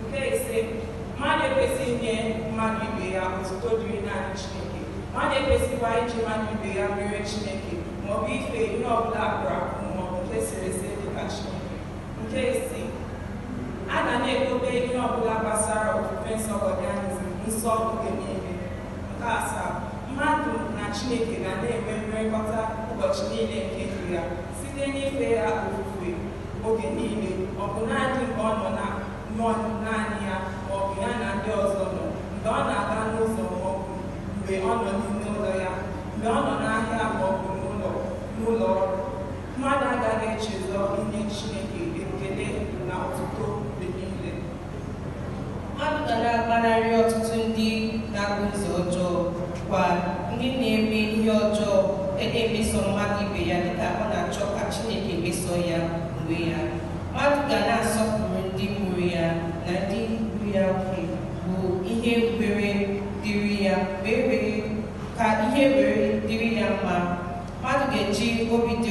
Nke ise, mmadụ ekwesịghị inye mmadụ ibe ya otuto dịrị naanị Chineke. Mmadụ ekwesịghịkwa iji mmadụ ibe ya mere Chineke ma ọ bụ ife ihe ọ bụla a kpụrụ akpụ ma ọ bụ nke e sere ese dị ka Chineke. Nke isii, a ga na-edobe ihe ọ bụla gbasara ofufe nsọ Godianism nsọ oge niile. Nke asaa, mmadụ na Chineke ga na-enwe mmekọta ụbọchị niile nke ndụ ya site n'ife ya ofufe Oge niile, ọbụnadị mgbe ọ nọ na nọ naanị ya ma ọ bụ ya na ndị ọzọ nọ, mgbe ọ na-aga n'ụzọ ma ọ bụ mgbe ọ nọ n'ime ụlọ ya, mgbe ọ nọ n'ahịa ma ọ bụ n'ụlọ n'ụlọ ọrụ. Mmadụ agaghị echezọ inye Chineke ekele na otuto mgbe niile. Mmadụ ga na-agbanarị ọtụtụ ndị na-akụzi ọjọọ kwa ndị na-eme ihe ọjọọ e na-emeso mmadụ ibe ya dịka ọ na-achọ ka Chineke meso ya onwe ya. Mmadụ ga na-asọpụrụ ndị mụrụ ya na ndị ndu ya nke bụ ihe were dịrị ya wee were ka ihe were dịrị ya mma. Mmadụ ga-eji obi dị